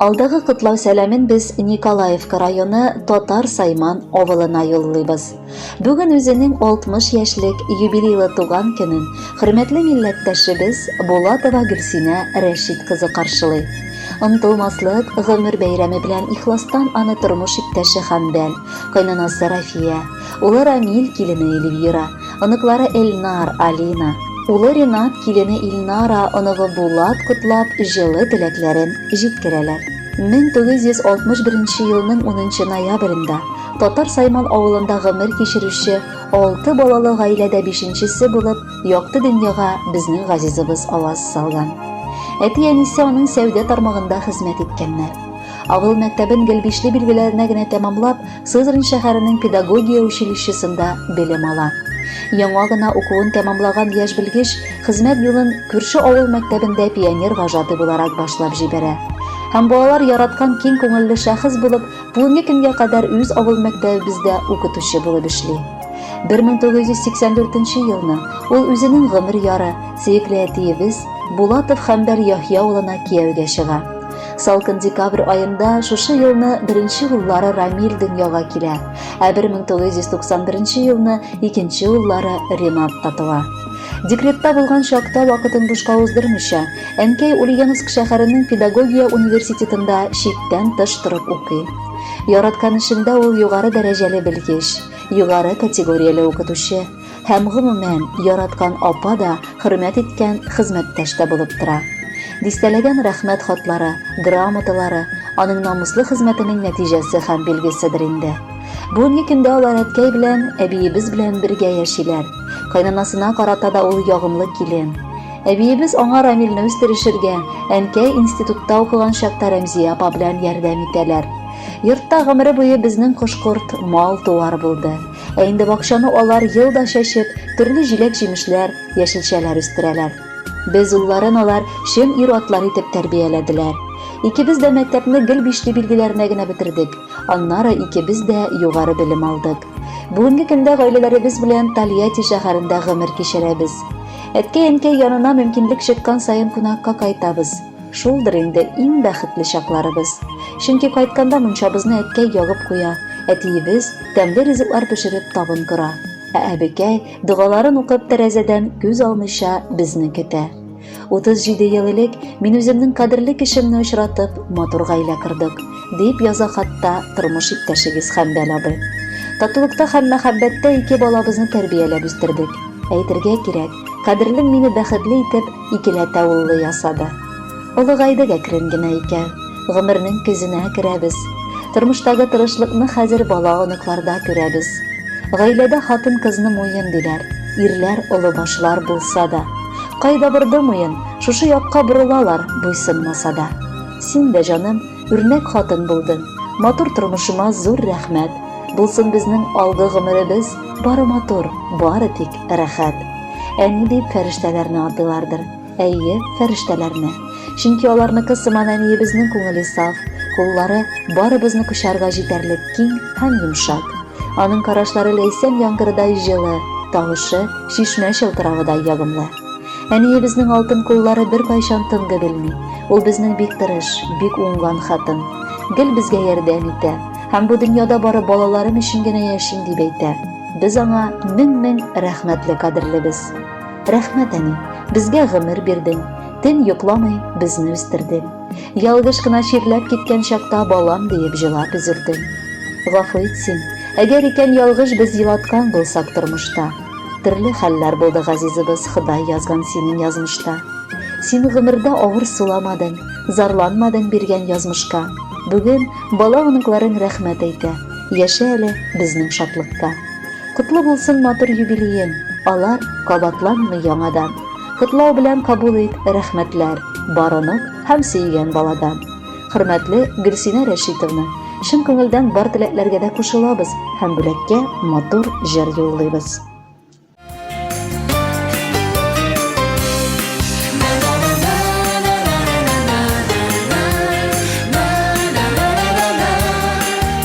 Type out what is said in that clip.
Алдагы котлау сәламен без Николаевка районы Татар Сайман авылына юллыйбыз. Бүген үзенең 60 яшьлек юбилейлы туган көнен хөрмәтле милләттәшебез Булатова Гөлсинә Рәшит кызы каршылый. Ынтылмаслык гомер бәйрәме белән ихластан аны тормыш иптәше Хәмдән, кайнанасы Рафия, Улы Рамил, килене Эльвира, оныклары Эльнар, Алина, улы Ренат, килене Илнара, оныгы Булат котлап, җылы теләкләрен җиткерәләр. 1961 елның 10 ноябрендә Татар Сайман авылында гомер кичерүче алты балалы гаиләдә бишенчесе булып якты дөньяга безнең газизыбыз аваз салган. Әти-әнисе аның сәүдә тармагында хезмәт иткәннәр. Авыл мәктәбен гел бишле билгеләренә генә тәмамлап, Сызрань шәһәренең педагогия училищесында белем ала. Яңа гына укуын тәмамлаган яшь белгеч хезмәт юлын күрше авыл мәктәбендә пионер вожатый буларак башлап җибәрә. Һәм балалар яраткан киң күңелле шәхес булып, бүгенге көнгә кадәр үз авыл мәктәбебездә укытучы булып эшли. 1984 елны ул үзенең гомер яры, сөекле әтиебез Булатов Хәмбәр Яхья улына кияүгә чыга. Салкын декабрь аенда шушы елны беренче уллары Рамил дөньяга килә, ә 1991 елны икенче уллары Ренат та туа. Декретта булган чакта вакытын бушка уздырмыйча, әнкәй Ульяновск шәһәренең педагогия университетында читтән тыш торып укый. Яраткан эшендә ул югары дәрәҗәле белгеч, югары категорияле укытучы. Һәм, гомумән, яраткан апа да, хөрмәт иткән хезмәттәш тә булып тора. Дистәләгән рәхмәт хатлары, грамоталары, аның намуслы хезмәтенең нәтиҗәсе һәм билгеседер инде. Бүгенге көндә алар әткәй белән, әбиебез белән бергә яшиләр. Кайнанасына карата да ул ягымлы килен. Әбиебез аңа Рамилне үстерешергә, әнкәй институтта укыган чакта Рәмзия апа белән ярдәм итәләр. Йортта гомере буе безнең кош-корт, мал-туар булды. Ә инде бакчаны алар ел да чәчеп, төрле җиләк-җимешләр, яшелчәләр үстерәләр. Без улларын алар чын ир-атлар итеп тәрбияләделәр. Икебез дә мәктәпне гел бишле билгеләренә генә бетердек. Аннары икебез дә югары белем алдык. Бүгенге көндә гаиләләребез белән Тольятти шәһәрендә гомер кичерәбез. Әткәй-әнкәй янына мөмкинлек чыккан саен кунакка кайтабыз. Шулдыр инде иң бәхетле чакларыбыз. Чөнки кайтканда мунчабызны әткәй ягып куя, әтиебез тәмле ризыклар пешереп табын кора, ә әбекәй, догаларын укып, тәрәзәдән күз алмыйча безне көтә. 37 ел элек мин үземнең кадерле кешемне очратып, матур гаилә кордык, дип яза хатта тормыш иптәшегез Хәмбәл абый. Татулыкта һәм мәхәббәттә ике балабызны тәрбияләп үстердек. Әйтергә кирәк, кадерлем мине бәхетле итеп, Икеләтә уллы ясады. Олыгайдык әкрен генә икән. Гомернең көзенә керәбез. Тормыштагы тырышлыкны хәзер бала-оныкларда күрәбез. Гаиләдә хатын-кызны муен диләр. Ирләр олы башлар булса да. Кайда борды муен, шушы якка борылалар, буйсынмаса да. Син дә, җаным. Үрнәк хатын булдың. Матур тормышыма зур рәхмәт. Булсын безнең алгы гомеребез, бары матур, бары тик рәхәт. Әни дип фәрештәләрне атыйлардыр. Әйе, фәрештәләрне. Чөнки аларныкы сыман әниебезнең күңеле саф, куллары барыбызны кочарга җитәрлек киң һәм йомшак. Аның карашлары ләйсән яңгырыдай җылы, тавышы чишмә чылтыравыдай ягымлы. Әниебезнең алтын куллары бер кайчан тынды белми. Ул безнең бик тырыш, бик уңган хатын. Гел безгә ярдәм итә. Һәм бу дөньяда бары балаларым өчен генә яшим дип әйтә. Без аңа мең-мең рәхмәтле кадерлебез. Рәхмәт, әни, безгә гомер бирдең. Төн йокламый безне үстердең. Ялгыш кына чирләп киткән чакта балам диеп җылап өзелдең. Гафу ит син, әгәр икән ялгыш без елаткан булсак тормышта. Төрле хәлләр булды, газизыбыз, Ходай язган синең язмышта. Син гомердә авыр суламадың, зарланмадың биргән язмышка. Бүген бала-оныкларың рәхмәт әйтә, яшә әле безнең шатлыкта. Котлы булсын матур юбилеен, алар кабатланмый яңадан. Котлау белән кабул ит рәхмәтләр, бар онык һәм сөйгән баладан. Хөрмәтле Гөлсинә Рәшитовна, чын күңелдән бар теләкләргә дә кушылабыз һәм бүләккә матур җыр юллыйбыз.